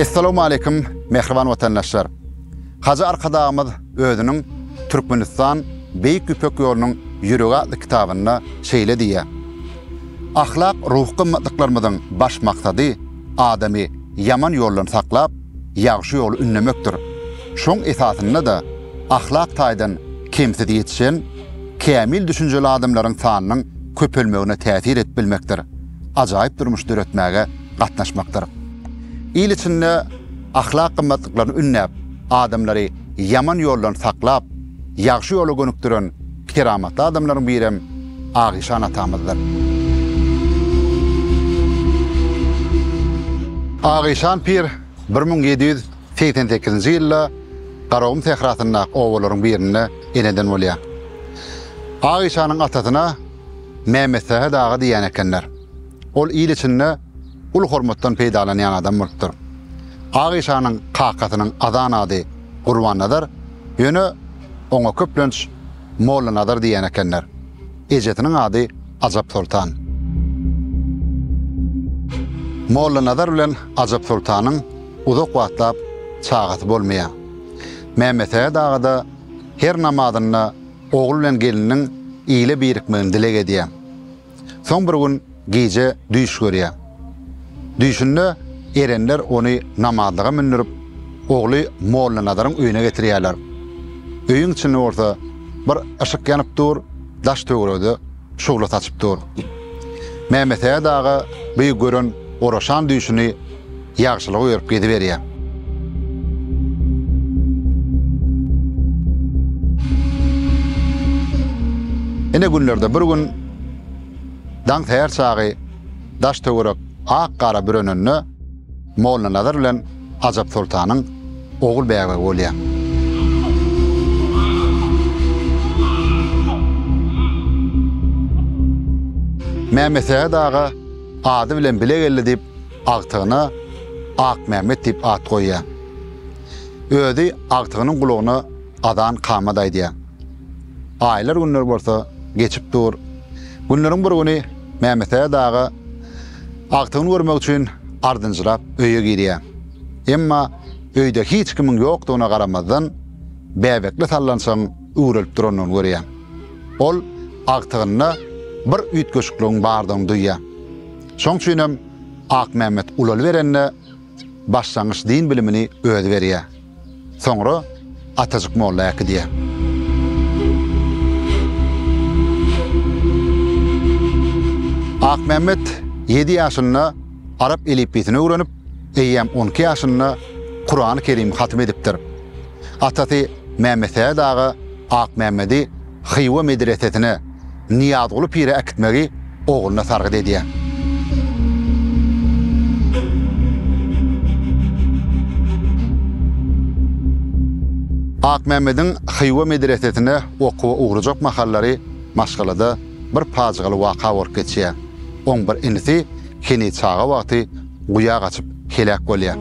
Essalamu aleýkum, mähriban watandaşlar. Hajy Arkadagymyz özüniň Türkmenistan Beýik Ýüpek ýolunyň ýüregi atly kitabynda şeýle diýýär. Ahlak ruhy gymmatlyklarymyzyň baş maksady adamy ýaman ýoldan saklap, ýagşy ýoly ündemekdir. Şoň esasynda-da, ahlak taýdan kemsiz ýetişen, kämil düşünjeli adamlaryň sanynyň köpelmegine täsir edip bilmekdir, ajaýyp durmuş döretmäge gatnaşmakdyr. Il içinde ahlak gymmatlyklaryny ündäp, adamlary ýaman ýoldan saklap, ýagşy ýola gönükdiren, Keramatly adamlaryň birem Agyşan atamyzdyr. Agyşan pir bir müň ýedi ýüz segsen sekizinji ýylda Garagum sährasyndaky obalaryň birinde eneden bolýar. Agyşanyň atasyna Mämmetsähet aga diýýän ekenler. Ol il içinde uly hormatdan peýdalanýan adam bolupdyr. Agyşanyň kakasynyň azan ady Gurbannazar, ýöne Oňa köplenç Mollanazar diýen ekenler. Ejesiniň ady Ajapsoltan. Mollanazar bilen Ajapsoltanyň uzak wagtlap çagasy bolmaýar. Mämmetsähet aga-da her namazynda ogul bilen geliniň ile birikmegini dileg edýär. Soň bir gün gije düýş görýär. Düýşünde erenler ony namazlyga mündürip, ogly Mollanazaryň öýüne getirýärler. Öýüň içinde bolsa bir yşyk ýanyp dur, daş-töweregde şugla saçyp dur. Mämesäet aga bu gören oraşan düýşüni ýagşylyk öýerip geziberýär. Ine günlerde bir gün daň säher çagy daş-töwerek ak gara bürenende Mollanazar bilen Ajap soltanyň ogul bäbegi bolýar. Mämmetsähet aga ady bilen bile geldi diýip, agtygyna Akmämmet diýip at goýýar. Özi agtygynyň gulagyna azan kamat aýdýar. Aýlar günler bolsa geçip dur. Günleriň bir güni Mämmetäýed aga agtygyny görmek üçin ardynjyrap öýe girýär. Emma öýde hiç kimiň ýokdugyna garamazdan bäbekli sallançagyň üwrelip durandygyny görýär. Ol agtygynda bir üýtgeşikligiň bardygyny duýýar. Şoň üçin hem Akmämmet ulalyberende başlangyç din bilimini özi berýär. Soňra Atajyk molla äkidýär. Akmämmet ýedi ýaşynda arap elipbiýsini öwrenip, eýýäm on iki ýaşynda Kurany Kerimi hatym edipdir. Atasy Mämmetsähet aga Akmämmedi Hywa medresesine, Nyýazguly pire äkitmegi ogluna sargyt edýär. Akmämmediň Hywa medresesine okuwa ugrajak mahallary maşgalada bir pajygaly waka bolup geçýär. Oň bir inisi heniz çaga wagty guýa gaçyp, heläk bolýar.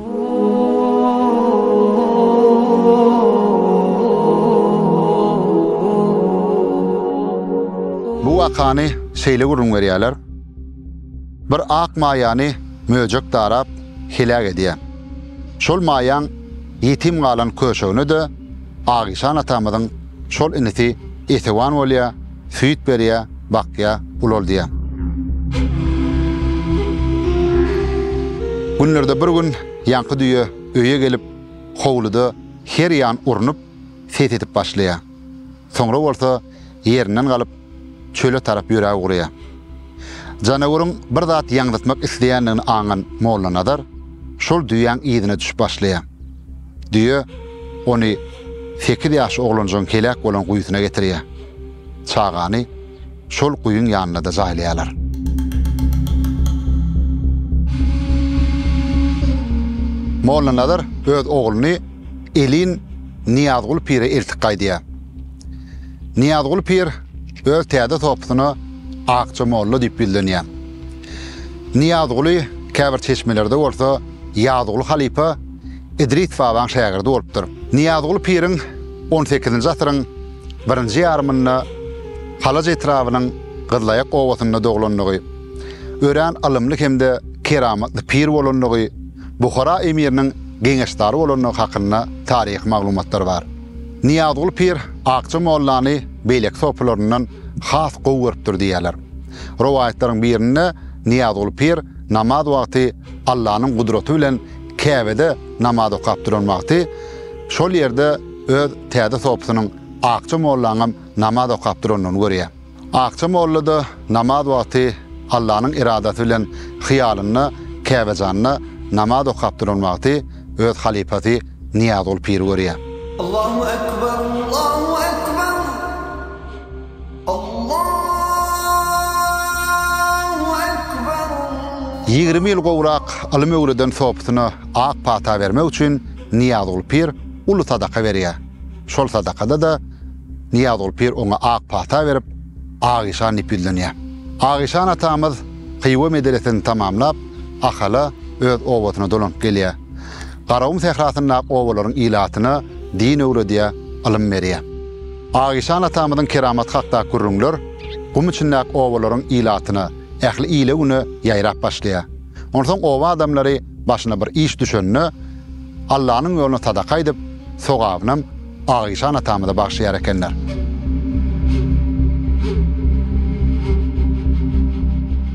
Bu wakany şeýle gürrüň berýärler, Bir ak maýany möjek darap, heläk edýär. Şol maýaň ýetim galan köşegine-de Agyşan atamyzyň şol inisi esewan bolýa, süýt berýä, bakýa, ulaldýa. Günlerde bir gün ýaňky düýe öýe gelip, howluda her ýan urnup, ses edip başlaýa. Soňra bolsa, ýerinden galyp, çöle tarap ýöräp ugraýar. Janaweriň bir zat ýaňzytmak isleýändigini aňan Mollanazar şol düýäň yzyna düşüp başlaýar. Düýe ony sekiz ýaşly oglanjygyň heläk bolan guýusyna getirýär. Çagany şol guýyň ýanynda-da jaýlaýarlar. Mollanazar öz ogluny elin Nyýazguly pire eltip gaýdýar. Nyýazguly pir öz täze sopysyna Akja molla diýip ýüzlenýär. Nyýazguly käbir çeşmelerde bolsa Ýazguly halypa Idris babaň şägirdi bolupdyr. Nyýazguly piriň on sekizinji asyryň birinji ýarymynda Halaç etrabynyň Gyzlaýak obasynda doglandygy, örän ylymly hem-de keramatly pir bolandygy, Buhara emiriniň geňeşdary bolandygy hakynda taryhy maglumatlar bar. Nyýazguly pir Akja mollany beýleki sopularyndan has gowy görüpdir diýýärler. Rowaýatlaryň birinde Nyýazguly pir namaz wagty Allanyň gudraty bilen Käbede namaz okap duran wagty, şol ýerde öz täze sopusynyň Akja mollaňam namaz okap durandygyny görýär. Akja molla-da namaz wagty Allanyň eradasy bilen hyýalynda Käbejanda namaz okap duran wagty öz halypasy Nyýazguly piri görýär. Allahu ekber, Allahu ekber, Allahu ekber. Ýigrimi ýyl gowrak ylym öwreden sopysyna ak pata bermek üçin Nyýazguly pir uly sadaka berýär. Şol sadakada-da Nyýazguly pir oňa ak pata berip, Agyşan diýip ýüzlenýär. Agyşan atamyz Hywa medresesini tamamlap, Ahala, öz obasyna dolanyp gelýär. Garagum sährasyndaky obalaryň ilatyna din öwredýär, ylym berýär. Agyşan atamyzyň keramaty hakdaky gürrüňler gum içindäki obalaryň ilatyna, ähli ile-güne ýaýrap başlaýar. Onsoň oba adamlary başyna bir iş düşende, Allanyň ýoluna sadaka aýdyp, sogabynam, Agyşan atamyza bagşlaýar ekenler.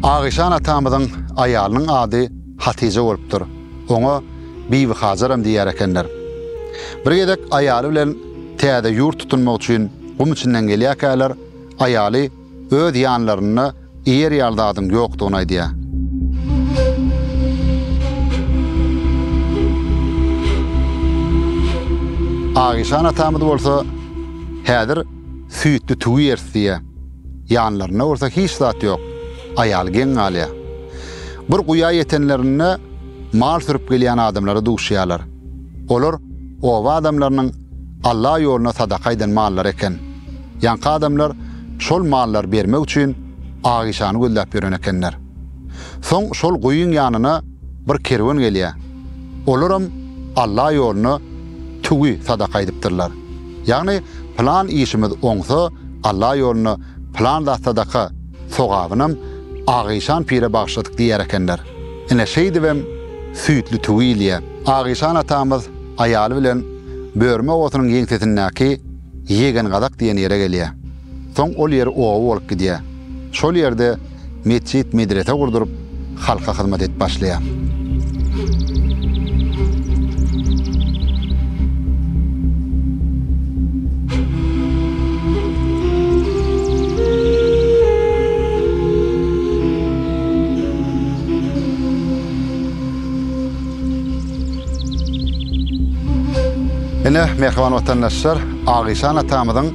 Agyşan atamyzyň aýalynyň ady Hatyja bolupdyr. Oňa Bibihajaram diýer ekenler. Bir gezek aýaly bilen täze ýurt tutunmak üçin gum içinden gelýärkäler, aýaly. öz ýanlarynda iýer ýaly zadyň ýokdugyny aýdýar. Agyşan atamyz bolsa, Häzir süýtli tüwi iýeris diýýär. Ýanlarynda bolsa hiç zat ýok. Aýaly geň galýar. Bir guýa ýetenlerinde mal sürüp gelýän adamlara duşýarlar. Olar oba adamlarynyň Alla ýoluna sadaka eden mallary eken. Ýaňky adamlar şol mallary bermek üçin Agyşany gözläp ýören ekenler. Soň şol guýyň ýanyna bir kerwen gelýär. Olaram Alla ýoluna tüwi sadaka edipdirler. Ýagny pylan işimiz oňsa Alla ýoluna pylan zat sadaka sogabynam Agyşan pire bagyşladyk diýer ekenler. Ine şeýdibem süýtli tüwi ilýär. Agyşan atamyz Aýaly bilen Börme obasynyň ýeňsesindäki Ýegengadak diýen ýere gelýär. Soň ol ýer oba bolup gidýär. Şol ýerde metjit-medrese gurduryp, halka hyzmat edip başlaýar. Ine, mähriban watandaşlar, Agyşan atamyzyň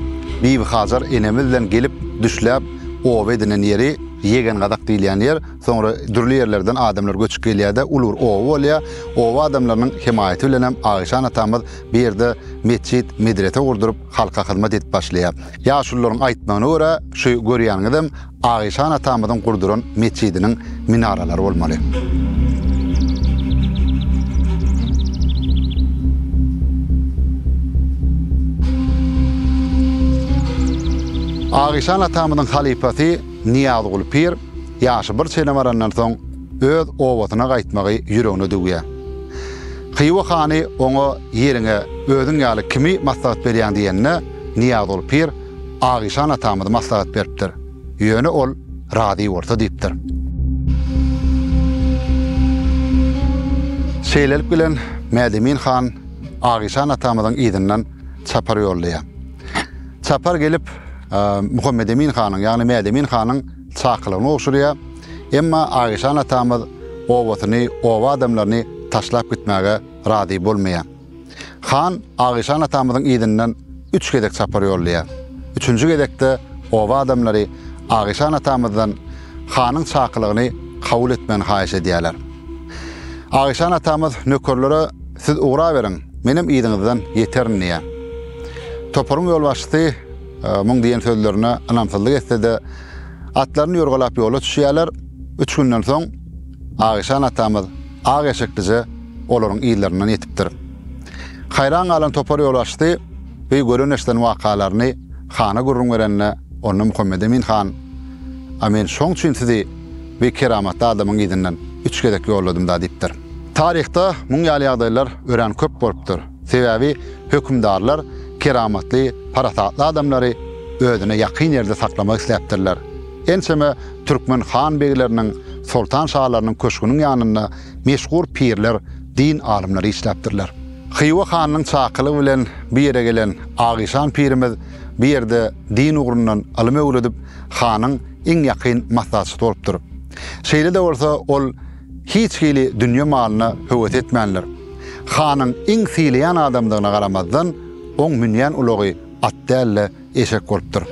Bibihajar enemiz bilen gelip düşläp oba edinen ýeri Ýegengadak diýilýän ýer. Soňra dürli ýerlerden adamlar göçüp gelýär-de, uly bir oba bolýar. Oba adamlarynyň hemaýaty bilenem Agyşan atamyz bu ýerde metjit, medrese gurduryp, halka hyzmat edip başlaýar. Ýaşulularyň aýtmagyna görä, şu görýäniňizem Agyşan atamyzyň gurduran metjidiniň minaralary bolmaly. Agyşan atamyzyň halypasy Nyýazguly pir ýaşy bir çene barandan soň öz obasyna gaýtmagy ýüregine düwýär. Hywa hany oňa ýeriňe özüň ýaly kimi maslahat berýäň diýende, Nyýazguly pir Agyşan atamyz maslahat beripdir. Ýöne ol razy bolsa diýipdir. Şeýlelik bilen Mädemin han Agyşan atamyzyň yzyndan çapar ýollaýar. Çapar gelip Muhammedemin hanyň, ýagny Mädemin hanyň çakylygyny gowşurýar. Emma Agyşan atamyz obasyny, oba adamlaryny taşlap gitmäge razy bolmaýar. Han Agyşan atamyzyň yzyndan üç gezek çapar ýollaýar. Üçünji gezekde oba adamlary Agyşan atamyzdan hanyň çakylygyny kabul etmegini haýyş edýärler. Agyşan atamyz nökerlere Siz ugraberiň, menem yzyňyzdan ýeterin diýýär. Toparyň ýolbaşçysy muň diýen sözlerine ynamsyzlyk etse-de, atlaryny ýorgalap ýola düşýärler. Üç günden soň Agyşan atamyz Ak eşeklije olaryň yzlaryndan ýetipdir. Haýran galan topar ýolbaşçysy bu gören-eşiden wakalaryny hana gürrüň berende, onda Muhammedemin han, A men şoň üçin sizi bu keramatly adamyň yzyndan üç gezek ýolladym-da diýipdir. Taryhda muň ýaly ýagdaýlar örän köp bolupdyr. Sebäbi hökümdarlar keramatly, parasatly adamlary özüne ýakyn ýerde saklamak isläpdirler. Ençeme türkmen han-begleriniň, soltan-şalarynyň köşgüniň ýanynda meşhur pirler, din alymlary işläpdirler. Hywa hanynyň çakylygy bilen bu ýere gelen Agyşan pirimiz bu ýerde din ugrundan ylym öwredip, hanyň iň ýakyn maslahatçysy bolupdyr. Şeýle-de bolsa, ol hiç hili dünýe malyna höwes etmändir. Hanyň iň sylaýan adamdygyna garamazdan, oň münýän ulagy at däl-de, eşek bolupdyr.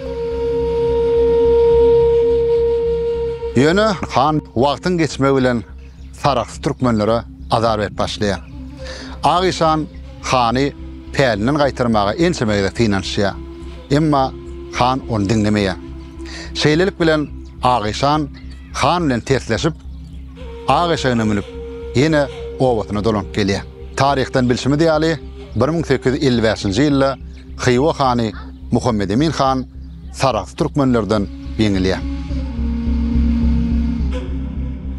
Ýöne han wagtyň geçmegi bilen saraksy türkmenlere azar berip başlaýar. Ak işan hany pälinden gaýtarmaga ençeme gezek synanyşýar. Emma han ony diňlemeýär. Şeýlelik bilen Ak işan han bilen tersleşip, ak eşegine münüp, ýene obasyna dolanyp gelýär. Taryhdan bilşimiz ýaly, bir müň sekiz ýüz elli bäşinji ýylda Hywa hany Muhammedemin han Sarahs türkmenlerden ýeňilýär.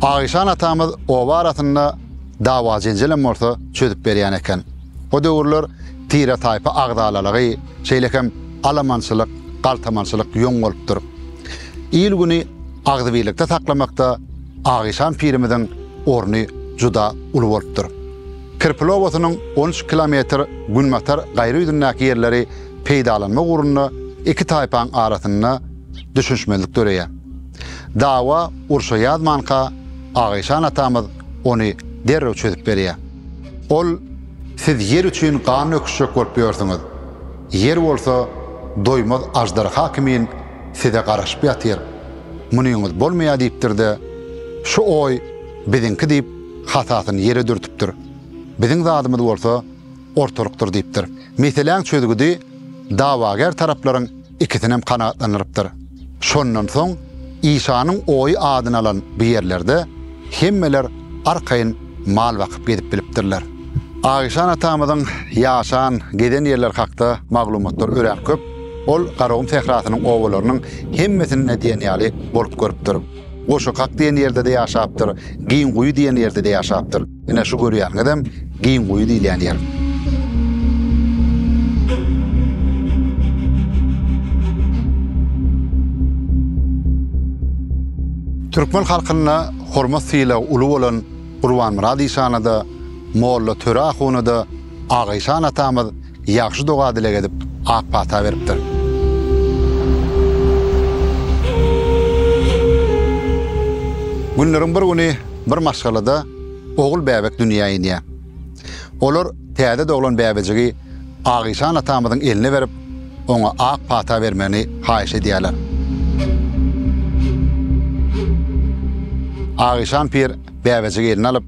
Agyşan atamyz oba arasynda dawa-jenjelem bolsa çözüp berýän eken. O döwürler tire-taýpa agzalalygy, şeýle hem alamançylyk, galtamançylyk ýoň bolupdyr. Il-güni agzybirlikde saklamakda Agyşan pirimiziň orny juda uly bolupdyr. Kirpili obasynyň on üç kilometr günbatar gaýry ýüzündäki ýerleri peýdalanmak ugrunda iki taýpaň arasynda düşünişmezlik döreýär. Dawa urşa ýazmanka Agyşan atamyz ony derrew çözüp berýär. Ol, Siz ýer üçin gan döküşjek bolup ýörsüňiz. Ýer bolsa doýmaz aždarha kimin size garaşyp ýatyr. Munyňyz bolmaýar diýipdir-de, Şu oý biziňki diýip, Hatasyny ýere dürtüpdir. Biziň zadymyz bolsa ortalykdyr diýipdir. Meseläň çözgüdi dawagär taraplaryň ikisinem kanagatlandyrypdyr. Şondan soň Işanyň oýy adyny alan bu ýerlerde hemmeler arkaýyn mal bakyp gezip bilipdirler. Aişan atamyzyň ýaşan, gezen ýerleri hakda maglumatlar örän köp. Ol Garagum sährasynyň obalarynyň hemmesinde diýen ýaly bolup görüpdir. Goşakak diýen ýerde-de ýaşapdyr, Giňguýy diýen ýerde-de ýaşapdyr. Ine, şu görýäniňizem Giňguýy diýilýän ýer. Türkmen halkynda hormat-sylagy uly bolan Gurbanmyrat işana-da, Molla Töre ahuna-da Agaýşan atamyz Ýagşy doga-dileg edip, ak pata beripdir. Günleriň bir güni bir maşgalada ogul bäbek dünýä inýär. Olar täze doglan bäbejigi Agyşan atamyzyň eline berip, oňa ak pata bermegini haýyş edýärler. Agyşan pir bäbejigi eline alyp,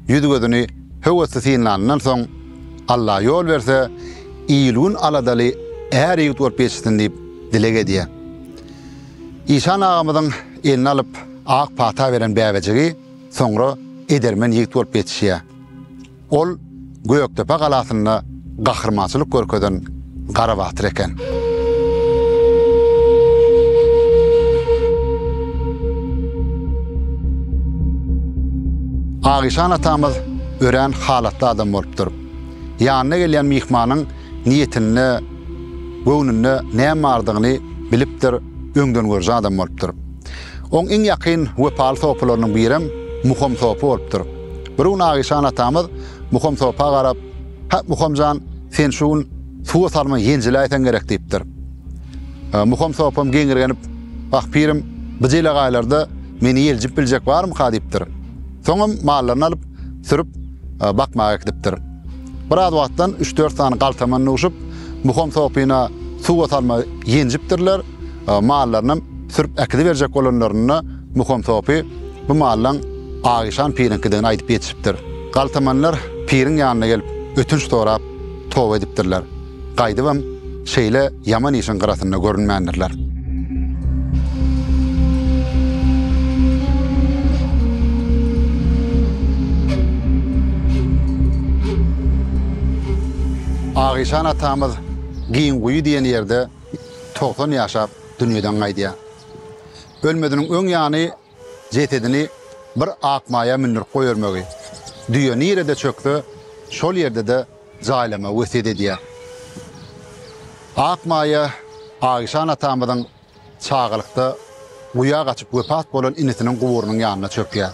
ýüz-gözüni höwesli synlanyndan soň, Alla ýol berse, il-gün aladaly är-ýigit bolup ýetişsin diýip dileg edýär. Işan agamyzyň eline alyp ak pata beren bäbejigi soňra edermen ýigit bolup ýetişýär. Ol Gökdepe galasynda gahrymançylyk görkezen Gara batyr eken. Agyşan atamyz örän halatly adam bolupdyr. Ýanyna gelýän myhmanyň niýetinde, göwnünde näme bardygyny bilipdir, öňdengörüji adam bolupdyr. Oň iň ýakyn wepaly sopalarynyň birem Muham sopy bolupdyr. Bir gün Agyşan atamyz Muham sopa garap. Hä, Muham jan, sen şu gün suwa salman ýenjiläýseň gerek, diýipdir. Muham sopam geňirgenip, Wah, pirim, bu jelegaýlarda meni ýeljip biljek barmyka? diýipdir. Soňam mallaryny alyp, sürüp, bakmaga gidipdir. Biraz wagtdan üç-dört sany galtaman duşup, Muham sopyna suwa salma ýenjipdirler, mallarynam sürüp äkidiberjek bolanlarynda Muham sopy, Bu mallaň Agyşan piriňkidigini aýdyp ýetişipdir. Galtamanlar piriň ýanyna gelip, ötünç sorap, toba edipdirler. Gaýdybam, şeýle ýaman işiň gyrasynda görünmändirler. Agyşan atamyz Giňguýy diýen ýerde togsan ýaşap, dünýeden gaýdýar. Ölmeziniň öň ýany jesedini bir ak maýa mündürip goýbermegi, düýe nirede çökse, şol ýerde-de jaýlamagy wesýet edýär. Ak maýa Aişan atamyzyň çagalykda guýa gaçyp wepat bolan inisiniň guburynyň ýanyna çökýär.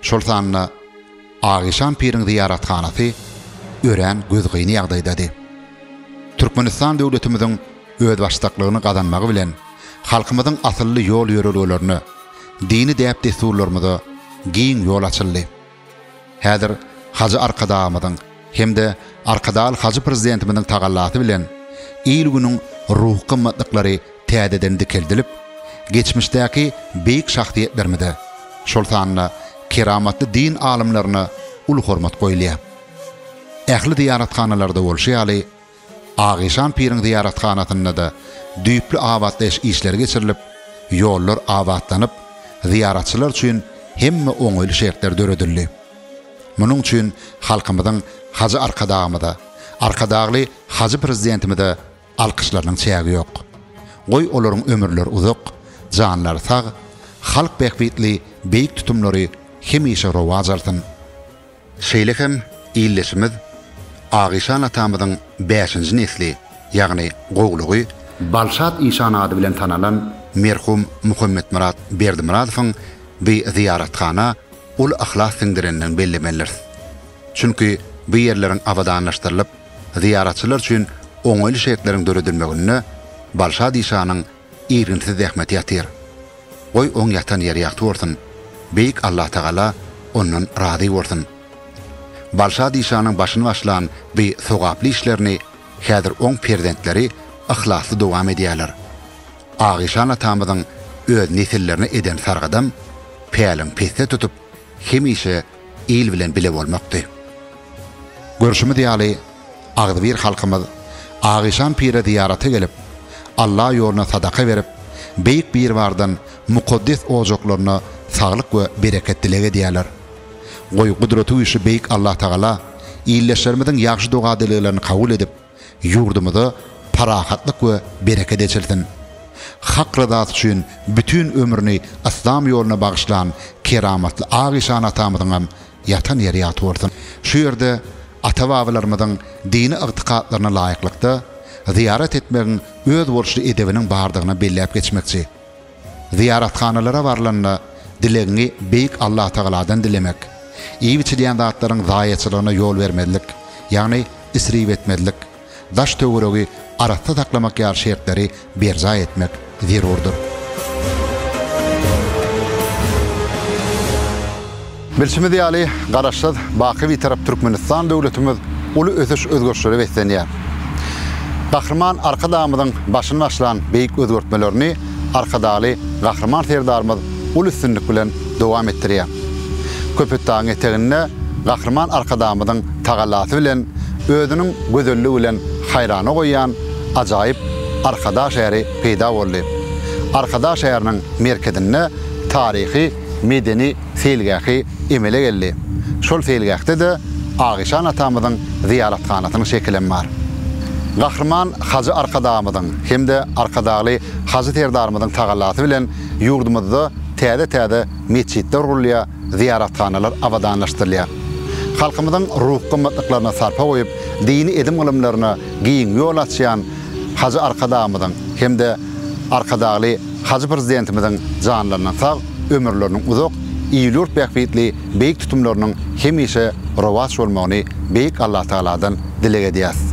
Şol sanda Agyşan piriň zyýarathanasy örän gözgyny ýagdaýdady. Türkmenistan döwletimiziň özbaşdaklygyny gazanmagy bilen, halkymyzyň asylly ýol-ýörelgelerine, dini däp-dessurlarymyza giň ýol açyldy. Häzir Hajy Arkadagymyzyň, hem-de Arkadag Hajy Prezidentimiziň tagallasy bilen il-günüň ruhy gymmatlyklary täzeden dikeldilip, geçmişdäki beýik şahsyýetlerimize, şol sanda keramatly din alymlaryna uly hormat goýulýar. Ähli zyýarathanalarda bolşy ýaly, Agyşan piriň zyýarathanasynda-da düýpli abatlaýyş işleri geçirilip, ýollar abatlanyp, zyýaratçylar üçin hemme oňaýly şertler döredildi. Munuň üçin halkymyzyň Hajy Arkadagymyza, Arkadagly Hajy Prezidentimize alkyşlarynyň çägi ýok. Goý olaryň ömürleri uzak, janlary sag, halk bähbitli beýik tutumlary hemişe rowaç alsyn! Şeýle hem ildeşimiz Agyşan atamyzyň bäşinji nesli, ýagny gowlugy Balşat işan ady bilen tanalan merhum Muhammetmyrat Berdimyradowyň bi zyýarathana uly yhlas siňdirendigini bellemeliris. Çünki bu ýerleriň abadanlaşdyrylyp, zyýaratçylar üçin oňaýly şertleriň döredilmeginde Balşat işanyň Irginsiz zähmeti ýatyr. Goý, oň ýatan ýeri ýagty bolsun, Beýik Allatagala ondan razy bolsun. Balşadişanyň başyny başlan bi sogaply işlerini häzir oň perzentleri yhlasly dowam edýärler. Agyşan atamyzyň öz nesillerine eden sargadam päliň pesde tutup, hemişe il bilen bile bolmakdy. Görşümiz ýaly, agzybir halkymyz Agyşan pire zyýarata gelip, Alla ýoluna sadaka berip, Beýik Biribardan mukaddes ojaklaryna saglyk we bereket dileg edýärler. Goý, gudraty güýçli Beýik Allatagala ildeşlerimiziň ýagşy doga-dileglerini kabul edip, Ýurdumyza parahatlyk we bereket eçilsin! Hak ryzasy üçin bütin ömrüni Yslam ýoluna bagyşlan keramatly Ak işan atamyzyňam ýatan ýeri ýat bolsun! Şu ýerde ata-babalarymyzyň dini ygtykatlaryna laýyklykda zyýarat etmegiň özboluşly edebiniň bardygyny belläp geçmekçi. Zyýarathanalara barlanda, dilegiňi Beýik Allatagaladan dilemek, iýip-içilýän zatlaryň zaýaçylygyna ýol bermezlik, ýagny isrip etmezlik, daş-töweregi arassa saklamak ýaly şertleri berjaý etmek zerurdyr. Bilşimiz ýaly, Garaşsyz, baky Bitarap Türkmenistan döwletimiz uly ösüş-özgerişlere beslenýär. Gahryman Arkadagymyzyň başyny başlan beýik özgertmelerini Arkadagly Gahryman Serdarymyz uly üstünlik bilen dowam etdirýär. Köpetdagyň eteginde Gahryman Arkadagymyzyň tagallasy bilen özüniň gözelligi bilen haýrana goýýan ajaýyp Arkadag şäheri peýda boldy. Arkadag şäheriniň merkezinde taryhy, medeni, seýilgähi emele geldi. Şol seýilgähde-de Agyşan atamyzyň zyýarathanasynyň şekilem bar. Gahryman Hajy Arkadagymyzyň hem-de Arkadagly Hajy Serdarymyzyň tagallasy bilen ýurdumyzda täze-täze metjitler gurulýar, zyýarathanalar abadanlaşdyrylýar. Halkymyzyň ruhy gymmatlyklaryna sarpa goýup, dini edim-gylymlaryna giň ýol açýan, Hajy Arkadagymyzyň hem-de Arkadagly Hajy Prezidentimiziň janlarynyň sag, ömürleriniň uzak, il-ýurt bähbitli beýik tutumlarynyň hemişe rowaç bolmagyny Beýik Allatagaladan dileg edýäs.